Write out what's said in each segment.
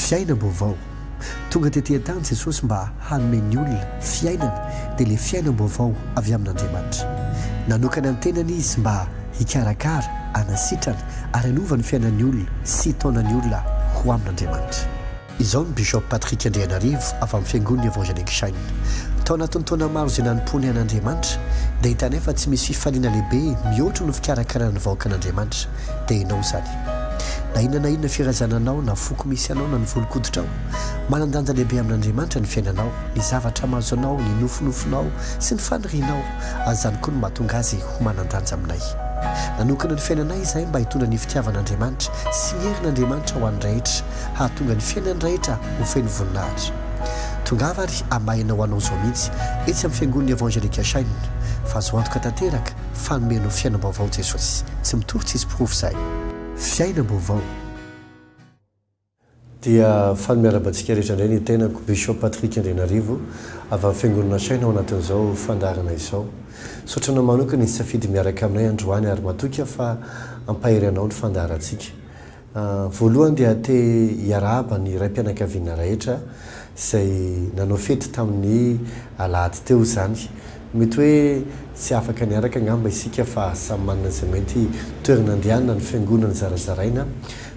Fiainam-baovao, Tonga tetỳ an-tany Jesosy mba hanome ny olona fiainana, dia ilay fiainam-baovao avy amin'Andriamanitra. Nanokana ny tenany izy mba hikarakara, hanasitrana, ary hanova ny fiainan'ny olona sy hitaona ny olona ho amin'Andriamanitra. Izao ny Bishop Patrick Andrianarivo avy amin'ny Fiangonan'ny Evangelique Shine. Tao anatin'ny taona maro izay nanompoany an'Andriamanitra dia hitanay fa tsy misy fifaliana lehibe mihoatra noho ny fikarakarana ny vahoakan'Andriamanitra. Dia ianao izany. Na inona na inona firazana anao na foko misy anao na ny volon-koditrao, manan-danja lehibe amin'Andriamanitra ny fiainanao, ny zavatra mahazo anao, ny nofinofinao sy ny fanirianao ary izany koa no mahatonga azy ho manan-danja aminay. Nanokana ny fiainanay izahay mba hitondra ny fitiavan'Andriamanitra sy ny herin'Andriamanitra ho an'ny rehetra hahatonga ny fiainany rehetra ho feno voninahitra. Tongava ary hamahena ho anao izao mihitsy etsy amin'ny Fiangonan'ny Evangelika Shine fa azo antoka tanteraka fa hanome anao fiainam-baovao Jesosy. Tsy mitory tsisy porofo izay. Fiainam-baovao. Dia fanome araba antsika rehetra indray ny tenako, Bishop Patrick Andrianarivo, avy amin'ny Fiangonana Shine ao anatin'izao fandaharana izao. Misaotra anao manokana izay safidy miaraka aminay androany ary matoky aho fa hampahery anao ny fandaharantsika. Voalohany dia te hiarahaba ny raim-pianakaviana rehetra izay nanao fety tamin'ny alahady teo izany. Mety hoe tsy afaka niaraka angamba isika fa samy manana izay mety toerana andehanana ny fiangonana zarazaraina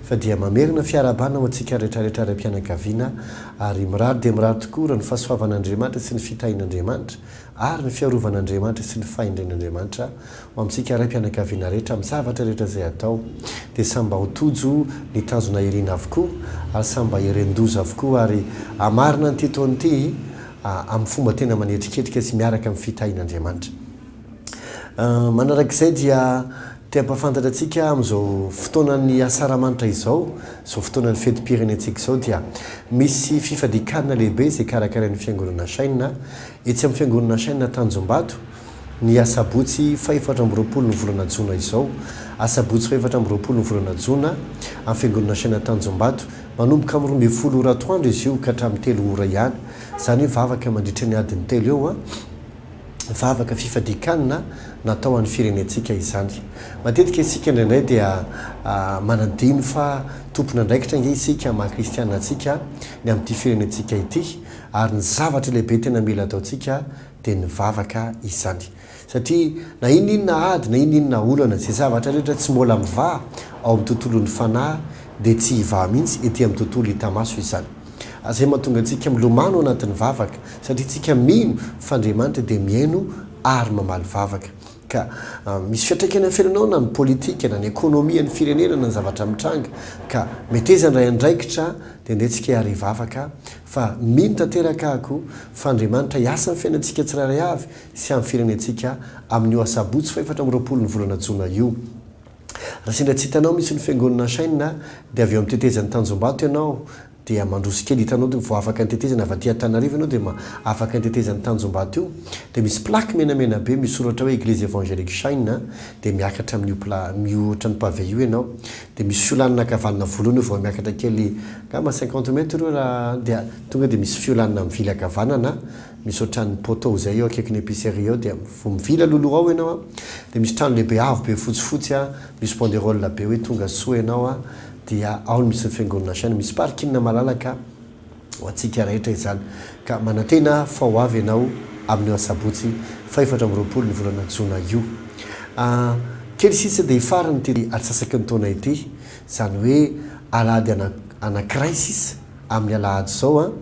fa dia mamerina fiarahabana ho antsika rehetrarehetra raim-pianakaviana ary mirary dia mirary tokoa raha ny fahasoavan'Andriamanitra sy ny fitahian'Andriamanitra ary ny fiarovan'Andriamanitra sy ny fahendren'Andriamanitra Ho amintsika raim-pianakaviana rehetra amin'ny zavatra rehetra izay atao, dia samy mba ho tojo ny tanjona irina avokoa ary samy mba hiren-doza avokoa ary hamarina an'ity taona ity amin'ny fomba tena manetriketrika sy miaraka amin'ny fitahian'Andriamanitra. Manarak'izay dia te hampahafantatra antsika amin'izao fotoanan'ny Asaramanitra izao, izao fotoanan'ny fetim-pirenentsika izao dia misy fifadian-kanina lehibe izay karakarain'ny Fiangonana Chaîne etsy amin'ny Fiangonana Chaîne Tanjombato, ny asabotsy fahefatra amby roapolo ny volana jona izao. Asabotsy fahefatra amby roapolo ny volana jona, amin'ny fiangonana Asaina Tanjombato. Manomboka amin'ny roa ambin'ny folo ora atoandro izy io ka hatramin'ny telo ora ihany. Izany hoe vavaka mandritra ny adiny telo eo. Vavaka fifadian-kanina natao an'ny firenentsika izany. Matetika isika indraindray dia manadino fa tompon'andraikitra ange isika maha kristiana antsika ny amin'ity firenentsika ity ary ny zavatra lehibe tena mila ataontsika dia nivavaka izany. Satria na inona inona ady, na inona inona olana, izay zavatra rehetra tsy mbola mivaha ao amin'ny tontolon'ny fanahy dia tsy hivaha mihitsy ety amin'ny tontolo hita maso izany. Izay mahatonga antsika milomano anatin'ny vavaka, satria isika mino fa Andriamanitra dia mihaino ary mamaly vavaka. Ka misy fiantraikany amin'ny fiainanao na ny politika, na ny ekonomia ny firenena, na ny zavatra mitranga. Ka meteza handray andraikitra aho, dia andeha tsika hiara hivavaka, fa mino tanteraka ako fa Andriamanitra hiasa amin'ny fiainantsika tsirairay avy sy amin'ny firenentsika amin'io asabotsy fahefatra amby roapolo ny volana jona io. Raha sendra tsy hitanao mihitsy ny fiangonana Shine dia avy eo amin'ny tetezan'i Tanjombato ianao, dia mandroso kely, hitanao dia vao afaka ny tetezana avy aty Antananarivo ianao dia ma, afaka ny tetezan'i Tanjombato io, dia misy plaque menamena be misoratra hoe Eglise Evangelique Shine a, dia miakatra amin'io pla, amin'io ohatran'ny pavé io ianao, dia misy fiolanana ankavanana voalohany eo vao miakatra kely angamba cinquante mètres eo raha an, dia tonga dia misy fiolanana mivily ankavanana misy ohatran'ny poteau izay eo akaikin'ny epicerie eo dia vao mivily alohaloha ao ianao a, dia misy trano lehibe avo be fotsifotsy a, misy banderole be hoe tonga soa ianao a, dia ao ny misy ny fiangonana hasaina misy parking malalaka ho antsika rehetra izany ka manantena fa ho avy ianao amin'io asabotsy fahefatra amby roapolo ny volana jona io ah, kely sisa dia hifarana ity atsasaky ny taona ity izany hoe alahady ana anankiray sisa amin'ny alahady izao an,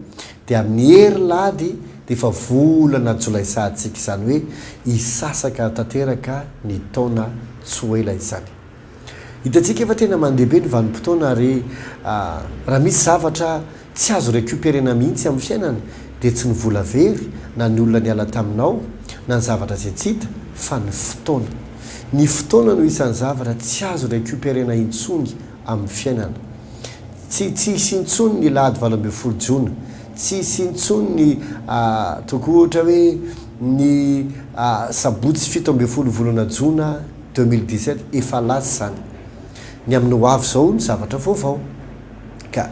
dia amin'ny herilahady dia efa volana jolay sahatsika izany hoe hisasaka tanteraka ny taona tsy ho ela izany. Hitantsika efa tena mandehabe ny vanim-potoana ary raha misy zavatra tsy azo recuperena mihitsy amin'ny fiainana dia tsy ny vola very na ny olona niala taminao na ny zavatra izay tsy hita fa ny fotoana. Ny fotoana no isan'ny zavatra tsy azo recuperena intsony amin'ny fiainana. Tsy tsy hisy intsony ny lahady valo ambin'ny folo jona, tsy hisy intsony ny tokoa ohatra hoe ny sabotsy fito ambin'ny folo volana jona, Deux mille dix sept efa lasa izany. Ny amin'ny ho avy izao no zavatra vaovao. Ka,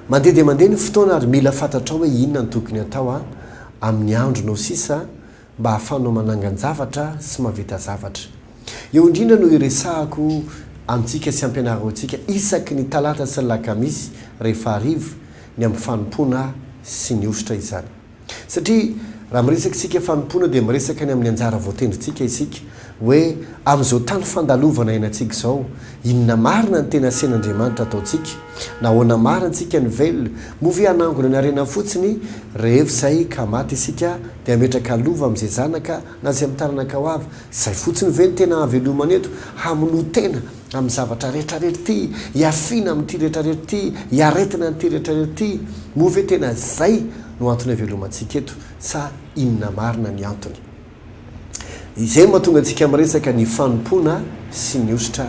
mandeha dia mandeha ny fotoana ary mila fantatrao hoe inona no tokony hatao amin'ny andronao sisa mba hahafahanao manangan-javatra sy mahavita zavatra. Eo indrindra no iresahako amintsika sy ampianaro antsika isaky ny talata sy ny lakamisy rehefa hariva ny amin'ny fanompoana sy ny hosotra izany. Satria raha miresaka isika fanompoana dia miresaka ny amin'ny anjara voatendrintsika isika, hoe amin'izao tany fandalovana iainantsika izao, inona marina ny tena asen'Andriamanitra ataontsika? Nahoana marina antsika ny vel? Moa ve hanangona ny harena fotsiny rehefa izay ka maty isika dia hametraka lova amin'izay zanaka na izay amin'ny taranaka ho avy? Izay fotsiny ve no tena hahavelomana eto? Hamonoa tena? amin'ny zavatra rehetrarehetra ity, hiafiana amin'ity rehetrarehetra ity, hiaretina an'ity rehetrarehetra ity, moa ve tena izay no antony havelomantsika eto sa inona marina ny antony? Izay no mahatonga antsika miresaka ny fanompoana sy ny hosotra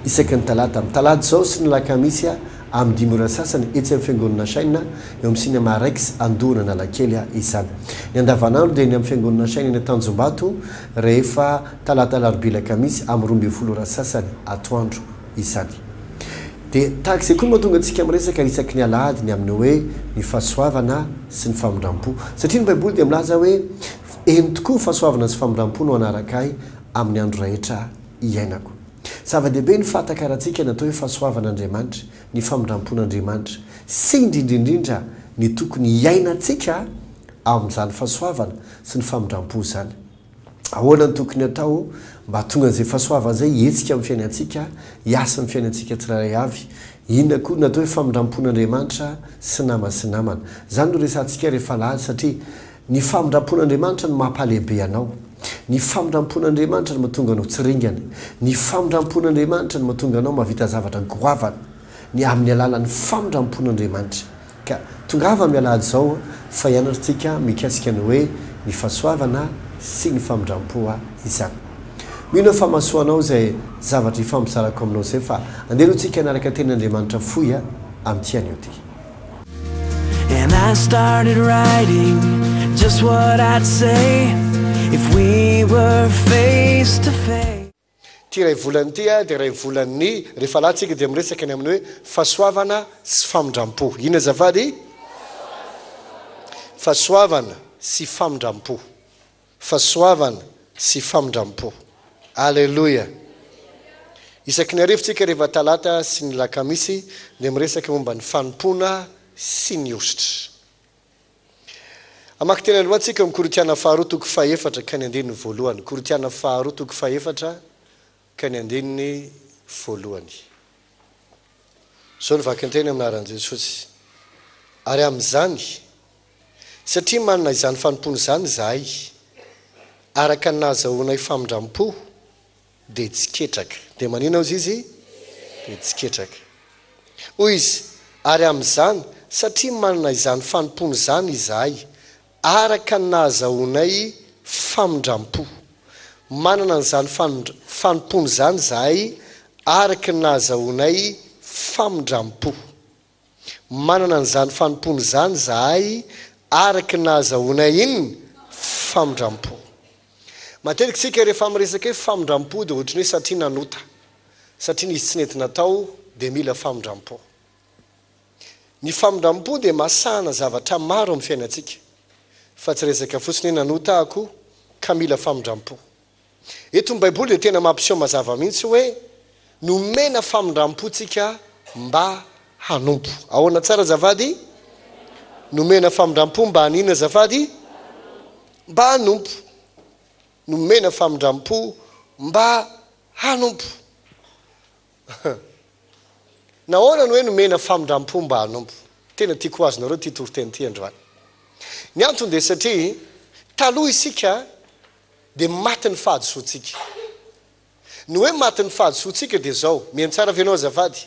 isaky ny talata, amin'ny talata izao sy ny alakamisy amin'ny dimy ora sasany etsy amin'ny fiangonana Shine eo amin'ny Cinema Rex Andohan'Analakely izany. Ny andavanandro dia eny amin'ny fiangonana Shine eny Tanjombato rehefa Talata Alarobia Alakamisy amin'ny roa ambin'ny folo ora sasany atoandro izany. Dia tahaka izay koa no mahatonga antsika miresaka isaky ny alahady ny amin'ny hoe ny fahasoavana sy ny famindram-po. Satria ny Baiboly dia milaza hoe eny tokoa fahasoavana sy famindram-po no hanaraka ahy amin'ny andro rahetra iainako. Zava-dehibe ny fahatakarantsika ny atao hoe fahasoavan'Andriamanitra, ny famindram-pon'Andriamanitra sy indrindraindrindra ny tokony hiainantsika ao amin'izany fahasoavana sy ny famindram-po izany. Ahoana no tokony hatao mba hahatonga an'izay fahasoavana izay hihetsika amin'ny fiainantsika, hiasa amin'ny fiainantsika tsirairay avy? Inona koa no atao hoe famindram-pon'Andriamanitra sy namana sy namana? Izany no resahantsika ry Falahy, satria ny famindram-pon'Andriamanitra no mampahalehibe anao. Ny famindram-pon'Andriamanitra no mahatonga anao tsy ringana. Ny famindram-pon'Andriamanitra no mahatonga anao mahavita zavatra goavana, ny amin'ny alalan'ny famindram-pon'Andriamanitra. Ka tongava amin'ny alahady izao fa hianarantsika mikasika ny hoe ny fahasoavana sy ny famindram-po izany. Mino aho fa mahasoa anao izay zavatra ifampizarako aminao izay fa andeha aloha tsika hanaraka teny Andriamanitra fohy amin'ity anio ty. And I started writing just what I'd say if we were face to face. Ity iray volana ity dia iray volan'ny rehefa lahy tsika dia miresaka ny amin'ny hoe fahasoavana sy famindrampo. Inona azafady? Fahasoavana sy famindrampo. Fahasoavana sy famindrampo. Aleloia. Isaky ny arivo tsika rehefa talata sy ny lakamisy dia miresaka momba ny fanompoana sy ny hosotra. Hamaky teny aloha tsika ny Korintiana faharoa toko fahefatra ka ny andininy voalohany, Korintiana faharoa toko fahefatra ka ny andininy voalohany. Zao ny vakinteny amin'ny anaran'i Jesosy, Ary amin'izany, satria manana izany fanompoana izany izahay, araka ny nahazahoanay famindrampo, Dia tsy ketraka. Dia manina hozy izy? Dia tsy ketraka. Hoy izy, Ary amin'izany, satria manana izany fanompoana izany izahay, araka ny nahazahoanay famindram-po. Manana an'izany fanompoana izany izahay araka ny nahazahoanay famindram-po. Manana an'izany fanompoana izany izahay araka ny nahazahoanay iny famindram-po. Matetika isika rehefa miresaka hoe famindram-po dia ohatran'ny hoe satria nanota, satria nisy tsy nety natao dia mila famindram-po. Ny famindram-po dia masahana zavatra maro amin'ny fiainantsika, fa tsy resaka fotsiny hoe nanota aho koa ka mila famindram-po. Eto ny Baiboly dia tena mampiseho mazava mihitsy hoe nomena famindram-po tsika mba hanompo. Ahoana tsara azafady? Nomena famindram-po mba haninona azafady? Mba hanompo. Nomena famindram-po mba hanompo. Nahoana no hoe nomena famindram-po mba hanompo? Tena tiako ho azonareo ity toriteny ity androany. Ny antony dia satria taloha isika dia maty ny fahadisoantsika. Ny hoe maty ny fahadisoantsika dia izao, mihaino tsara ve ianao azafady?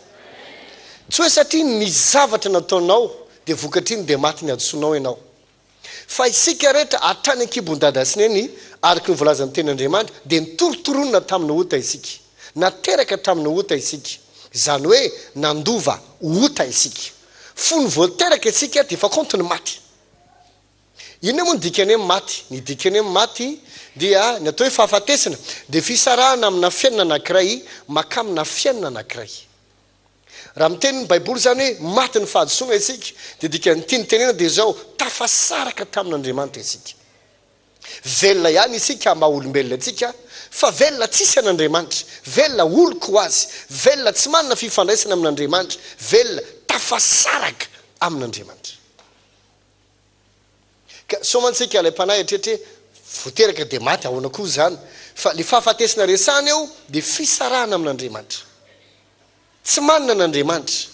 Tsy hoe satria ny zavatra nataonao dia vokatr'iny dia maty ny hadisoanao ianao. Fa isika rehetra hatrany an-kibon'i Dada sy Neny, araka ny voalazan'ny Tenin'Andriamanitra, dia nitorontoronina tamin'ny ota isika. Nateraka hatramin'ny ota isika. Izany hoe nandova ota isika. Fony vao teraka isika dia efa kaonty ny maty. Inona moa ny dikan'ny hoe maty? Ny dikan'ny hoe maty dia, ny atao hoe fahafatesana dia fisarahana amina fiainana anankiray mankamina fiainana anankiray. Raha miteny ny Baiboly izany hoe maty ny fahadisoana isika dia dikan'ny tiany tenena dia izao, tafasaraka tamin'Andriamanitra isika. Velona ihany isika maha olombelona antsika fa velona tsisy an'Andriamanitra, velona oloko ho azy, velona tsy manana fifandraisana amin'Andriamanitra, velona tafasaraka amin'Andriamanitra. Ka sao mantsika ilay mpanahy hieritreritra hoe vao teraka dia maty, ahoana koa izany? Fa ilay fahafatesana resahina eo dia fisarahana amin'Andriamanitra. Tsy manana an'Andriamanitra.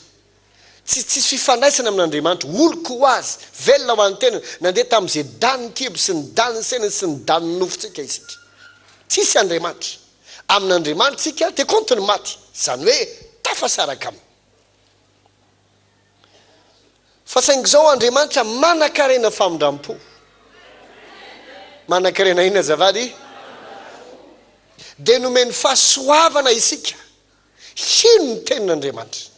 Tsy tsisy fifandraisana amin'Andriamanitra. Oloko ho Azy. Velona ho an'ny tenany. Nandeha tamin'izay danin'ny kibo sy ny danin'ny saina sy ny danin'ny nofontsika isika. Tsisy Andriamanitra. Amin'Andriamanitra isika dia kaonty ny maty. Izany hoe tafasaraka Aminy. Fa saingy izao Andriamanitra manankarena famindram-po. Manankarena inona azafady? Dia nomeny fahasoavana isika hino ny tenin'Andriamanitra.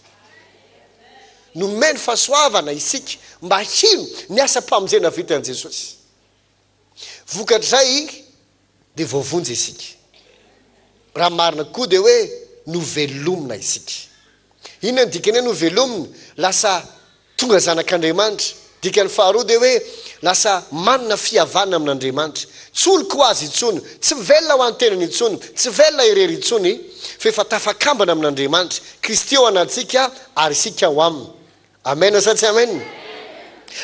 Nomeny fahasoavana isika mba hino ny asam-pamonjena vitan'i Jesosy. Vokatr'izay dia voavonjy isika. Raha marina koa dia hoe novelomina isika. Inona no dikan'ny hoe novelomina? Lasa tonga zanak'Andriamanitra. Dikany faharoa dia hoe lasa manana fihavanana amin'Andriamanitra. Tsy oloko ho azy intsony, tsy velona ho an-tenany intsony, tsy velona irery intsony, fa efa tafakambana amin'Andriamanitra. Kristy ao anatintsika ary isika ao aminy. Amen sa tsy amen?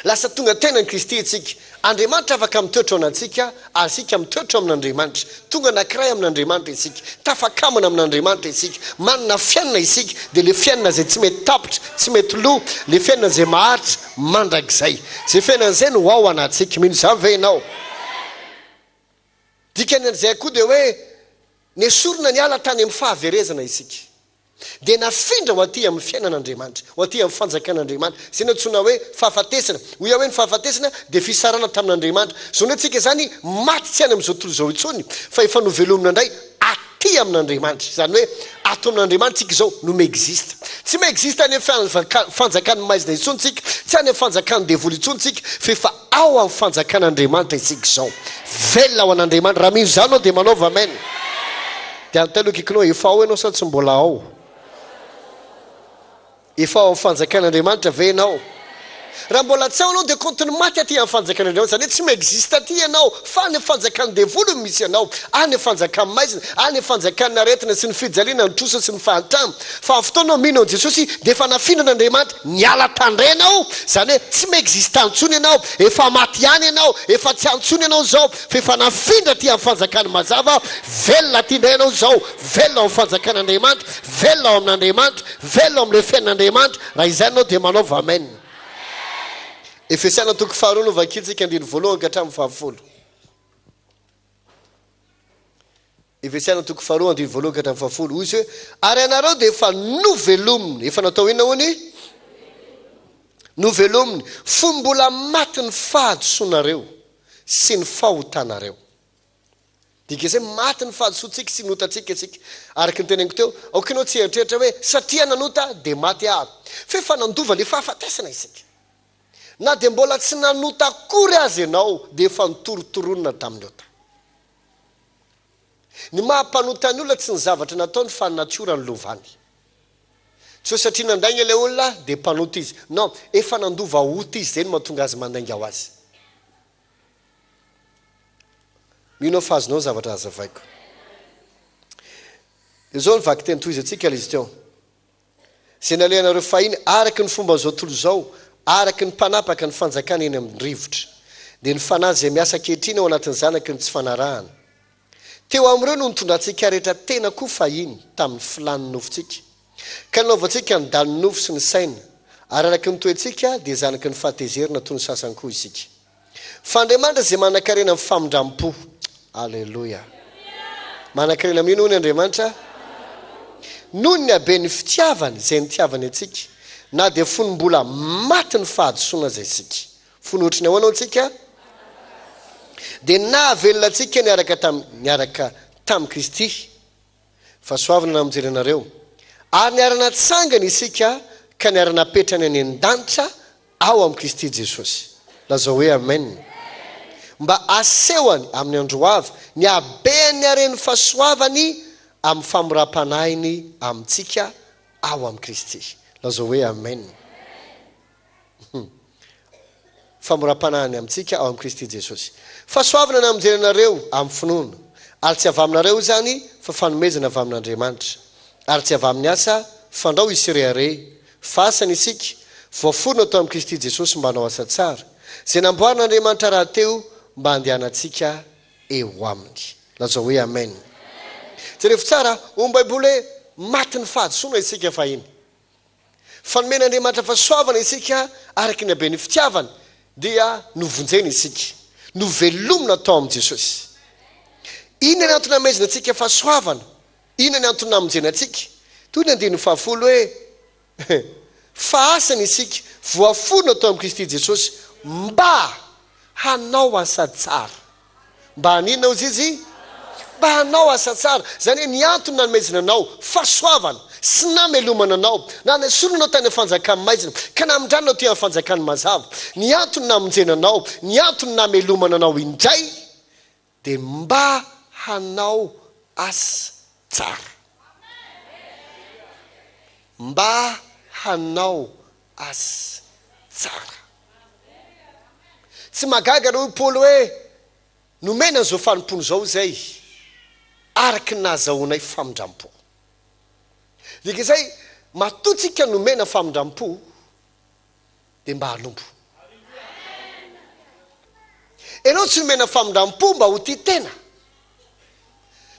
Lasa tonga tenan'i Kristy isika. Andriamanitra afaka mitoetra ao anatintsika ary isika mitoetra ao amin'Andriamanitra. Tonga anankiray amin'Andriamanitra isika. Tafakamina amin'Andriamanitra isika. Manana fiainana isika, dia ilay fiainana izay tsy mety tapitra, tsy mety lo, ilay fiainana izay maharitra mandrakizay. Izay fiainana izay no ao anatintsika. Mino izany ve ianao? Dikan'izay koa dia hoe nesorina niala tany amin'ny fahaverezana isika. dia nafindra ho aty amin'ny fiainan'Andriamanitra, ho aty amin'ny fanjakan'Andriamanitra. Izay no antsoina hoe fahafatesana. Hoy aho hoe ny fahafatesana dia fisarahana tamin'Andriamanitra. Izao indray tsika izany maty tsy any amin'izao tontolo izao intsony fa efa novelomina indray aty amin'Andriamanitra. Izany hoe ato amin'Andriamanitra tsika izao no mi-existe. Tsy mi-existe any amin'ny fanjakan'ny maizina intsony tsika, tsy any amin'ny fanjakan'ny devoly intsony tsika fa efa Ao amin'ny fanjakan'Andriamanitra isika izao. Velona ho an'Andriamanitra. Raha mino izany ianao dia manaova Amen. Dia anontanianao akaikinao eo, efa ao ianao sa tsy mbola ao? Efa ao amin'ny fanjakan'Andriamanitra ve ianao? Raha mbola tsy ao ianao dia kaontiny maty aty amin'ny fanjakan'Andriamanitra. Izany hoe tsy mi-existe aty ianao fa any amin'ny fanjakan'ny devoly no misy anao. Any amin'ny fanjakan'ny maizina, any amin'ny fanjakan'ny aretina sy ny fijaliana, ny trosa sy ny fahantrana. Fa amin'ny fotoana mino an'i Jesosy dia efa nafindran'Andriamanitra. Niala tandrena aho, izany hoe tsy mi-exista intsony ianao, efa maty ihany ianao, efa tsy antsony ianao izao, fa efa nafindra aty amin'ny fanjakan'ny mazava, velona aty indray ianao izao, velona ao amin'ny fanjakan'Andriamanitra, velona ao amin'Andriamanitra, velona ao amin'ilay fiainan'Andriamanitra, raha izany ianao dia manaova amen. Efesiana toko faharoa no vakintsika, andininy voalohany ka hatramin'ny fahafolo. Efesiana toko faharoa andininy voalohany ka hatramin'ny fahafolo, hoy izy hoe, Ary ianareo dia efa novelominy, efa natao inona hono? novelominy, fony mbola maty ny fahadisoanareo sy ny fahotanareo. Midika izay maty ny fahadisoantsika sy ny otantsika isika. Araka ny teneniko teo, aoka ianao tsy hieritreritra hoe, satria nanota dia maty aho. Fa efa nandova ilay fahafatesana isika. Na dia mbola tsy nanota akory aza ianao dia efa notorontoronina tamin'ny ota. Ny maha mpanota ny olona tsy ny zavatra nataony fa ny natiora no lovany. Tsy hoe satria nandainga ilay olona dia mpanota izy. Non, efa nandova ota izy izay no mahatonga azy mandainga ho azy. Mino aho fa azonao ny zavatra hazavaiko. Dia izao ny vakiteny tohizantsika ilay izy teo. izay nalehanareo fahiny araka ny fomban'izao tontolo izao, araka ny mpanapaka ny fanjakana eny amin'ny rivotra, dia ny fanahy izay miasa ankehitriny ao anatin'ny zanaky ny tsy fanarahana. Teo amin'ireo no nitondrantsika rehetra tena koa fahiny tamin'ny filàn'ny nofontsika, ka nanaovantsika ny dalin'ny nofo sy ny saina, ary araka ny toetsika dia zanaky ny fahatezerana toy ny sasany koa isika. Fa Andriamanitra izay manankarena amin'ny famindram-po. Aleloia! Manankarena amin'inona hono Andriamanitra? Noho ny haben'ny fitiavany izay nitiavany antsika, na dia fony mbola matin'ny fahadisoana aza isika. Fony ohatry ny ahoana hono isika? Dia nahavelona antsika niaraka tamin'i, niaraka tamin'i Kristy. Fahasoavana na mijery anareo. Ary niara-natsangana isika ka niara-napetrany any an-danitra ao amin'i Kristy Jesosy. Lazao hoe Amen. Mba asehony, amin'ny andro ho avy, ny habean'ny haren'ny fahasoavany amin'ny famoram-panahiny amintsika ao amin'i Kristy. Lazao hoe Amen. Famoram-panahy ny amintsika ao amin'i Kristy Jesosy. Fahasoavana ny hamonjena anareo amin'ny finoana, ary tsy avy aminareo izany fa fanomezana avy amin'Andriamanitra, ary tsy avy amin'ny asa, fandrao hisy rehareha, fa asany isika, voaforona tao amin'i Kristy Jesosy mba hanao asa tsara, izay namboarin'Andriamanitra rahateo mba handehanantsika eo aminy. Lazao hoe Amen. Jereo tsara, hoy ny Baiboly hoe, Matin'ny fahadisoana isika fahiny. Fa nomen'Andriamanitra fahasoavana isika araka ny haben'ny fitiavany, dia novonjena isika, novelomina tao amin'i Jesosy. Inona ny antony hamezana antsika fahasoavana? Inona ny antony namonjena antsika? Toy ny andininy fahafolo hoe, Fa asany isika, voaforona tao amin'i Kristy Jesosy mba hanao asa tsara. Mba haninona hozy izy? Mba hanao asa tsara. Izany hoe ny antony nanomezana anao fahasoavana sy namelomana anao, na nesolo anao tany amin'ny fanjakany maizina ka namindrany anao aty amin'ny fanjakany mazava, ny antony namonjena anao, ny antony namelomana anao indray dia mba hanao asa tsara. Mba hanao azy tsara. Tsy mahagaga raha hoy Paoly hoe, Nomena an'izao fanompoana izao izay araka ny nahazahoanay famindram-po. Dika izay, matoa tsika nomena famindram-po, dia mba hanompo. Ianao tsy nomena famindram-po mba ho tia tena.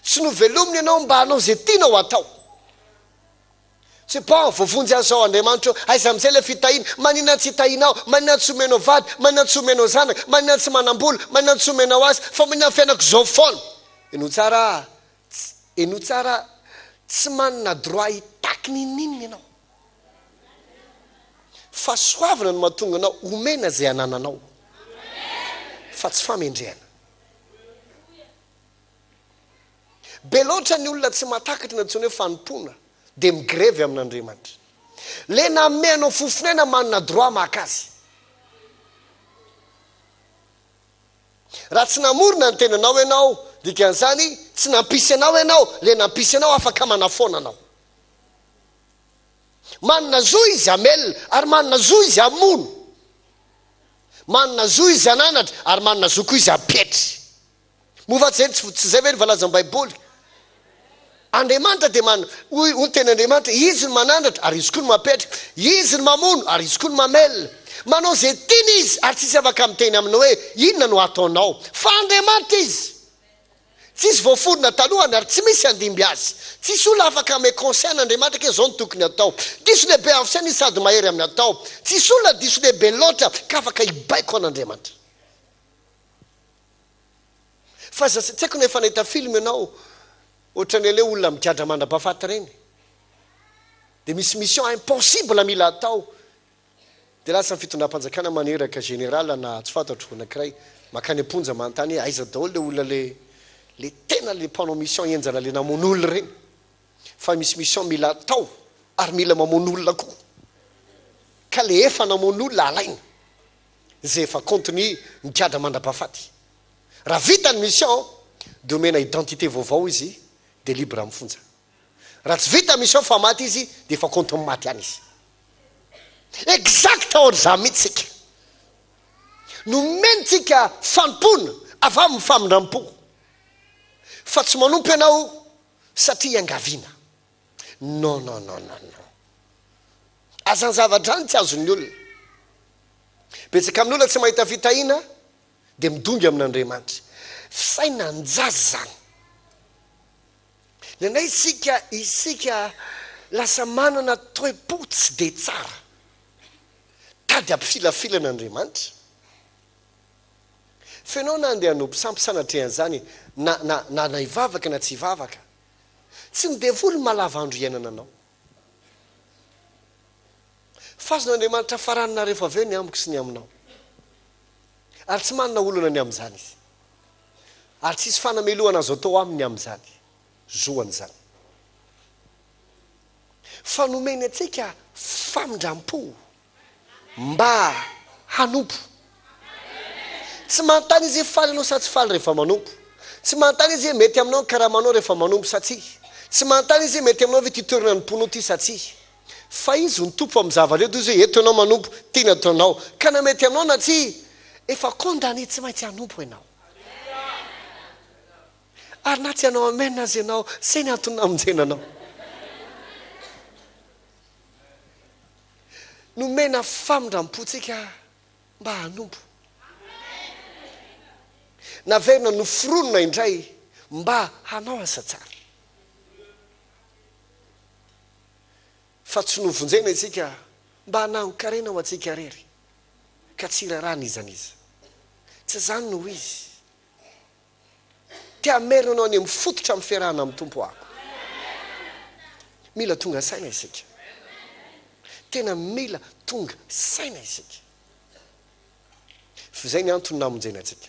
Tsy novelomina ianao mba hanao izay tianao hatao. Tsipao, voavonjy an'izao andriamanitra eo, aiza amin'izay ilay fitahiana? Maninona tsy hitahianao? Maninona tsy omenao vady? Maninona tsy omenao zanaka? Maninona tsy manam-bola? Maninona tsy omenao asa? Fa maninona ny fiainako izao foana? Henoy tsara ah, tsy, henoy tsara ah, tsy manana droit hitaky n'inon'inona ianao. Fahasoavana no mahatonga anao homena izay anananao, fa tsy famendrehana. Be loatra ny olona tsy mahatakatra ny antsoina hoe fanompoana dia migrevy amin' Andriamanitra. Ilay nanome anao fo fonena manana droit maka azy. Raha tsy namorona ny tenanao ianao, dikan'izany tsy nampisy anao ianao, ilay nampisy anao afaka manafoana anao. Manana zo izy hamelona ary manana zo izy hamono. Manana zo izy hananatra ary manana zo koa izy hampetry. Moa va tsy izay, tsy izay ve ny valazan'ny Baiboly? Andriamanitra dia man, hoy, hoy ny teny Andriamanitra, Izy no manandratra, ary Izy koa no mampiatrika. Izy no mamono, ary Izy koa no mamelona. Manao izay tiany Izy, ary tsisy afaka miteny Aminy hoe, Inona no ataonao? Fa Andriamanitra Izy. Tsy izy voaforona talohan, ary tsy misy handimby Azy. Tsisy olona afaka hanome conseil an'Andriamanitra ke izao no tokony atao. Diso lehibe avy saina Izy sady mahery amin'ny atao. Tsisy olona diso lehibe loatra ka afaka hibaiko an'Andriamanitra. Fa za tsy haiko na efa nahita film ianao ohatran'ny an'ilay olona migadra mandrabafaty ireny dia misy mission impossible mila atao dia lasa ny fitondram-panjakana maneraka général na tsy fantatro anankiray makany am-ponja manontany hoe aiza daholo ilay olona ilay ilay tena ilay mpanao mission henjana ilay namono olona ireny fa misy mission mila atao ary mila mamono olona koa ka ilay efa namono olona alaina izay efa compte-ny migadra mandrapahafaty. Raha vita ny mission dia omena identité vaovao izy dia libre amin'ny fonja. Raha tsy vita mission fa maty izy dia efa compte-ny maty ihany izy. Exact ohatr'izany mihitsy isika. Nomentsika fanompoana avy amin'ny famindram-po fa tsy manompo ianao satria iangaviana. Non non non non non. Aza ny zava-drano tsy azon'ny olona. Betsaka amin'ny olona tsy mahita fitahiana dia midongy amin'Andriamanitra. Fisainana ny jaza izany. Ny anay isika, isika lasa manana toe-po tsy dia tsara. Tady ampifilafilana Andriamanitra. F'enao na andeha hanompo sampy sanatria an'izany na na na na hivavaka na tsy hivavaka Tsy ny devoly no mahalava andro iainana anao. Fazon' Andriamanitra farany na rehefa avy eo ny amiko sy ny aminao. Ary tsy manana olana ny amin'izany Izy. Ary tsy hisy fanamelohana azo atao aminy amin'izany. Zoany izany. Fa nomeny antsika famindram-po. mba hanompo. Tsy manontany izy hoe faly ianao sa tsy faly rehefa manompo. Tsy manontany izy hoe mety aminao ny karamanao rehefa manompo sa tsia. Tsy manontany izy hoe mety aminao ve ity toerana anompoanao ity sa tsia. Fa izy no Tompo amin'ny zava-drehetra, toy izay eto ianao manompo, ity no ataonao. Ka na mety aminao na tsia, efa condamné tsy maintsy hanompo ianao. Ary na tsy hanao amen aza ianao, izay ny antony namonjena anao. Nomena famindram-po antsika mba hanompo. Naverina noforonina indray mba hanao asa tsara. Fa tsy novonjena isika mba hanangon-karena ho antsika irery, ka tsy iraharaha n'iza n'iza. Tsy izany no izy. Te hamerina anao any amin'ny fototra miferahana amin'ny Tompo aho. Mila tonga saina isika. Tena mila tonga saina isika. F'izay ny antony namonjena antsika.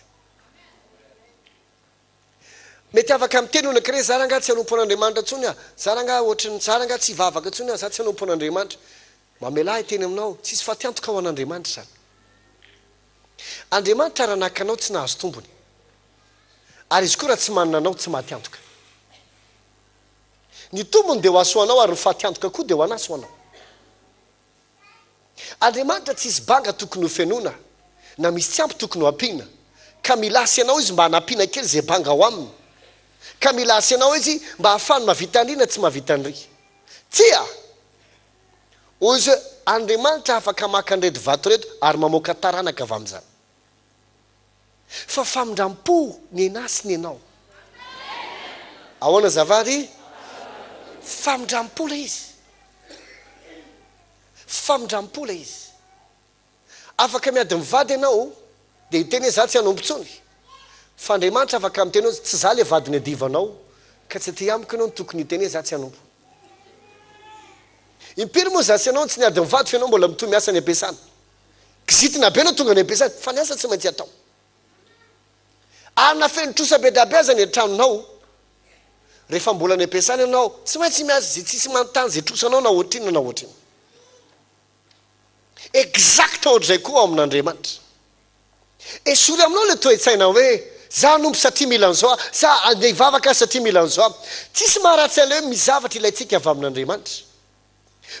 Mety afaka miteny hono ankiray, za rangah tsy hanompo an'Andriamanitra intsony aho, za rangah ohatran'ny, za rangah tsy hivavaka intsony aho, za tsy hanompo an'Andriamanitra. Mamelà hiteny aminao, tsisy fatiantoka ho an'Andriamanitra izany. Andriamanitra raha naka anao tsy nahazo tombony, ary Izy koa raha tsy manana anao tsy maty antoka. Ny tombony dia ho hasoanao ary ny faty antoka koa dia ho anaso anao. Andriamanitra tsy hisy banga tokony ho fenoina na misy tsy ampy tokony ho ampiana, ka mila Azy ianao Izy mba hanampiana kely izay banga ao aminy, ka mila Azy ianao Izy mba hahafahany mahavita an'ry na tsy mahavita an'ry. Tsia! Hoy izy hoe, Andriamanitra afaka maka an'ireto vato ireto ary mamoaka taranaka avy amin'izany. Fa famindram-po ny anà sy ny anao. Ahoana azafady? Famindram-po ilay izy. Famindram-po ilay izy. Afaka miady mivady ianao dia hiteny hoe za tsy hanompo intsony. Fa Andriamanitra afaka miteny hoe tsy za ilay vady niadivanao ka tsy aty amiko ianao no tokony hiteny hoe za tsy hanompo. Impiry moa za sy ianao no tsy niady mivady fa ianao mbola mitohy miasa any am-piasana. Kizitina be no tonga any am-piasana fa ny asa tsy maintsy atao. Arina feno trosa be dia be aza ny an-tranonao rehefa mbola any am-piasana ianao tsy maintsy miasa izay tsisy manontany izay trosanao na ohatrinona na ohatrinona. Exact ohatr'izay koa ao amin'Andriamanitra. Esory aminao ilay toe-tsaina hoe za hanompo satria mila an'izao aho, sa andeha hivavaka aho satria mila an'izao aho. Tsisy maharatsy an'ilay hoe misy zavatra ilaintsika avy amin'Andriamanitra.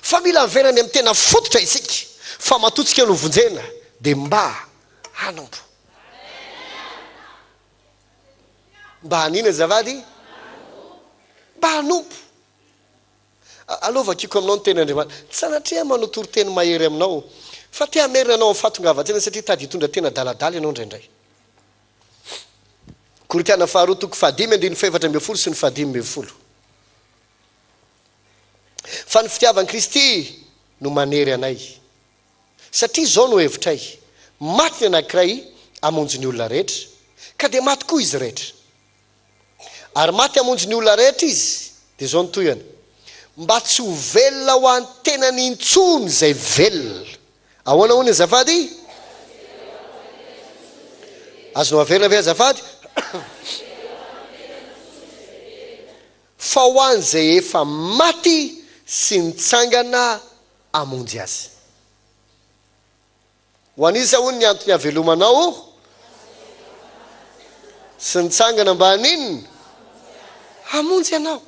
Fa mila avela any amin'ny tena fototra isika fa matoa tsika no vonjena dia mba hanompo. Mba hanina azafady? Mba hanompo. Aleo vakiko aminao ny Tenin'Andriamanitra. Tsy sanatria manao toriteny mahery aminao, fa te hamerina anao amin'ny fahatongavan-tsaina satria tady hitondra tena adaladala ianao indraindray. Korintiana Faharoa toko fahadimy andininy fahefatra ambin'ny folo sy ny fahadimy ambin'ny folo. Fa ny fitiavan'i Kristy no manery anay. Satria izao no hevitray, maty ny anankiray hamonjy ny olona rehetra, ka dia maty koa izy rehetra. Ary maty hamonjy ny olona rehetra izy. Dia izao ny tohihany, Mba tsy ho velona ho an'ny tenany intsony izay velona. Ahoana hono azafady? Azonao averina ve azafady? Fa ho an'izay efa maty sy nitsangana hamonjy azy. Ho an'iza hono ny antony havelomanao sy nitsangana mba haninona? Hamonjy anao.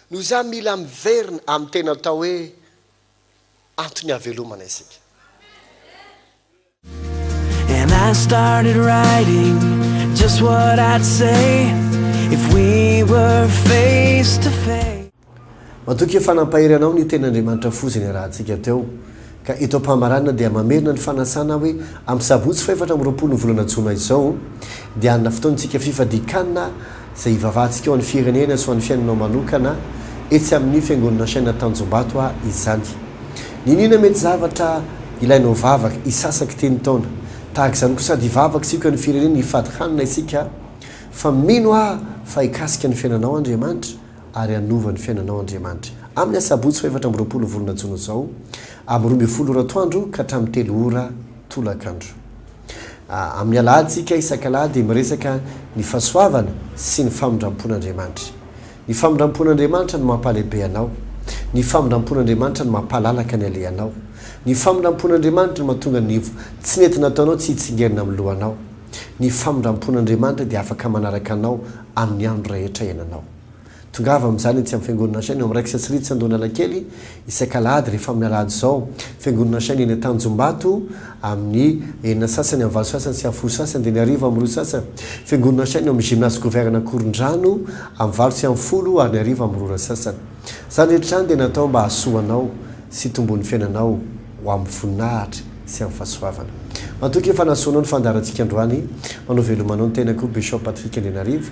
Noho izany mila miverina amin'ny tena atao hoe antony havelomana isika. And I started writing just what I'd say if we were face to face. Matoky efa nampahery anao ny tenin'Andriamanitra foza niarahantsika teo. Ka eto am-pamaranana dia mamerina ny fanasana hoe amin'ny sabotsy fahefatra amby roapolo ny volana jona izao dia hanana fotoana isika fifadian-kanina izay hivavahantsika ho an'ny firenena sy ho an'ny fiainanao manokana etsy amin'ny Fiangonana Chaîne Tanjombato a izany. Niniana mety zavatra ilainao vavaka, hisasa kiteny taona. Tahaka izany koa sady hivavaka sy hikoan'ny firenena hifady hanina isika fa mino aho fa hikasika ny fiainanao Andriamanitra ary hanova ny fiainanao Andriamanitra. Amin'ny asabotsy fahefatra amby roapolo volana jona izao amin'ny roa ambin'ny folo ora atoandro ka hatramin'ny telo ora tolakandro. Amin'ny Alahatsika isak'Alahady dia miresaka ny fahasoavana sy ny famindrampon'Andriamanitra. Ny famindrampon'Andriamanitra no mampalehibe anao. Ny famindrampon'Andriamanitra no mampalalaka ny alehanao. Ny famindrampon'Andriamanitra no mahatonga ny tsy nety nataonao tsy hitsingerina amin'ny lohanao. Ny famindrampon'Andriamanitra dia afaka manaraka anao amin'ny andro rehetra iainanao. Tongava amin'izany etsy amin'ny Fiangonana Shane ao amin'ny Rex Srids Andohanalakely isaka alahady rehefa amin'ny alahady izao. Fiangonana Shane eny Antanjombato amin'ny enina sasany amin'ny valo sasany sy amin'ny folo sasany dia ny hariva amin'ny roa sasany. Fiangonana Shane ao amin'ny Gymnase Gouverne Ankorondrano amin'ny valo sy amin'ny folo ary ny hariva amin'ny roa ora sasany. Izany rehetra izany dia natao mba hahasoa anao sy hitomboan'ny fiainanao ho amin'ny voninahitra sy amin'ny fahasoavana. Matoky fa nahasoa anao ny fandaharantsika androany. Manao veloma anao ny tenako, Bishop Patrick Andrianarivo.